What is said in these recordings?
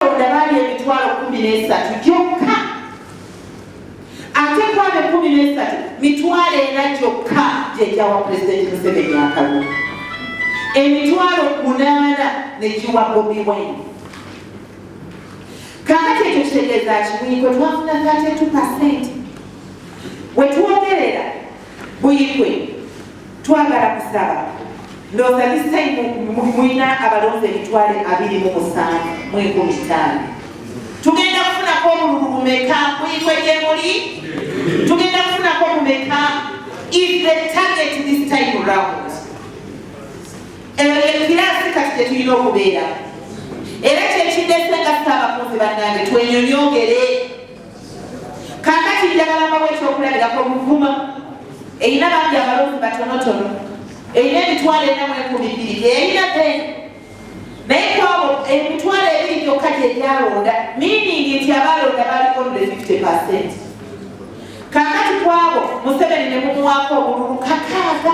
boda bali emitwalo kumi n'esatu gyokka ate kwabo ekumi n'esatu mitwalo ena gyokka gyegyawa pulezidenti museveni akalulu emitwalo munaana negiwa bobi wine kakati ekyo kitegeeza kimuikwe twafuna katetu pasenti wetwogerera buikwe Twagala kusaba ndowooza this time mulina abalonzi emitwale abiri mu musanvu mu enkumi ttaano tugenda kufunako omululu bumeka muyitwe gye muli tugenda kufunako bumeka if the target this time round eyo yekiraasi kati tetulina okubeera era kyekiddesenga saabakunzi bannange twenyonyogere Kaakati njagala mbawo ekyokulabirako Buvuma erina bangi abalonzi batonotono erina emitwalo ena mu enkumi bbiri gyeyalina be naye kwabo emitwalo ebiri gyokka gyegyalonda miiningi nti abalonda bali only 50 percent kakati kwabo museveni ne mumuwaako obululu kakaaga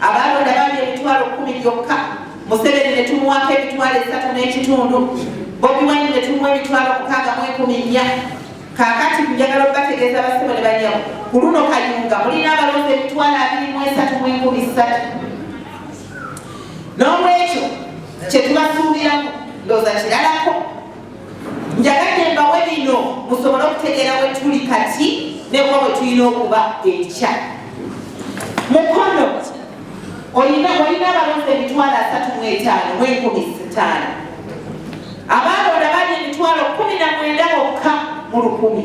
abaalonda baali emitwalo kumi gyokka museveni ne tumuwaako emitwalo esatu n'ekitundu bobi wine ne tumuwa emitwalo mukaaga mu enkumi nnya kakati njagala okubategeeza basebo ne banyamu ku luno kayunga mulina abalonzi emitwalo abiri mu esatu mu enkumi ssatu n'olwekyo kye tubasuubiramu ndooza kiralako njagadde mbawe bino musobole okutegeera we tuli kati nekuba bwe tulina okuba enkya mukono olina abalonzi emitwalo asatu mu etaano mu enkumi sitaano abaalonda bali emitwalo kumi na mwenda bokka mu lukumi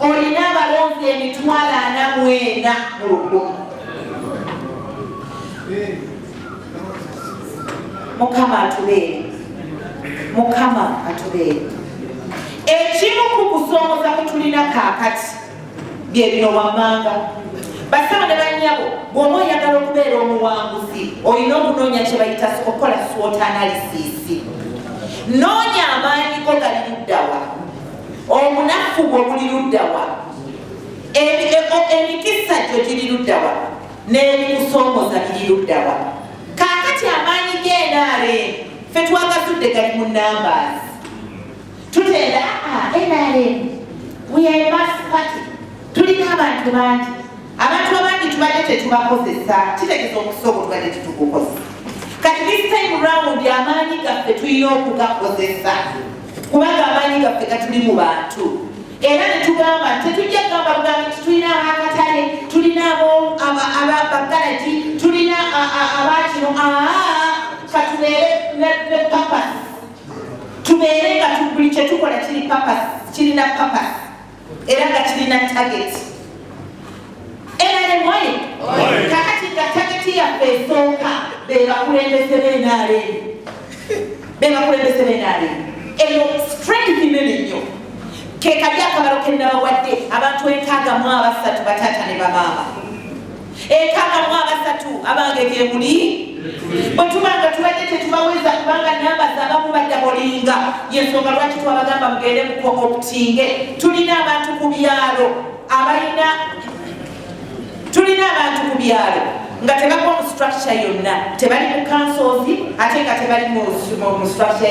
olina abalonzi emitwalo ana mwena mu lugumu mukama atubeere mukama atubeere ekimu ku kusoomoza kutulina kaakati bye bino wammanga basaba ne banyabo bw'omu oyagala okubeera omuwanguzi olina okunoonya kye bayita okukola swot analysis noonya amaanyi go gali luddawa obunafu bwo buli luddawa emikisa gyo giri luddawa n'ebikusoomoza biri luddawa kaakati amaanyi g'enaale fe twagasudde gali mu numbers tutenda ah, enaale wemas party tulina abantu bangi abantu abangi tubadde tetubakozesa kitegeza okusooka tubadde tetukukozesa kati this time round amaanyi gaffe tulina okugakozesa kubanga amaanyi gaffe gatuli mu bantu era netugamba nti tetujja kugamba bugambi nti tulina abakatale tulina ababagalaji tulina abakino katubeere ne papas tubeere nga buli kyetukola kiri papas kirina papas era nga kirina tageti nrmwaye kakati nga tageti yaffe esooka bebakulembeze benare bebakulembeze benare eyo strength nene nnyo kekali akabalo kenabawadde abantu enkaaga mu abasatu bataata ne bamaama ekakamu abasatu abange gyemuli bwe tuba nga tubadde tetubaweza kubanga namba zabamu badda bolinga yensonga lwaki twabagamba mugende mukooptinge tulina abantu ku byalo abalina tulina abantu ku byalo nga tebagwa mu structure yonna tebali mu kansozi ate nga tebali mu structure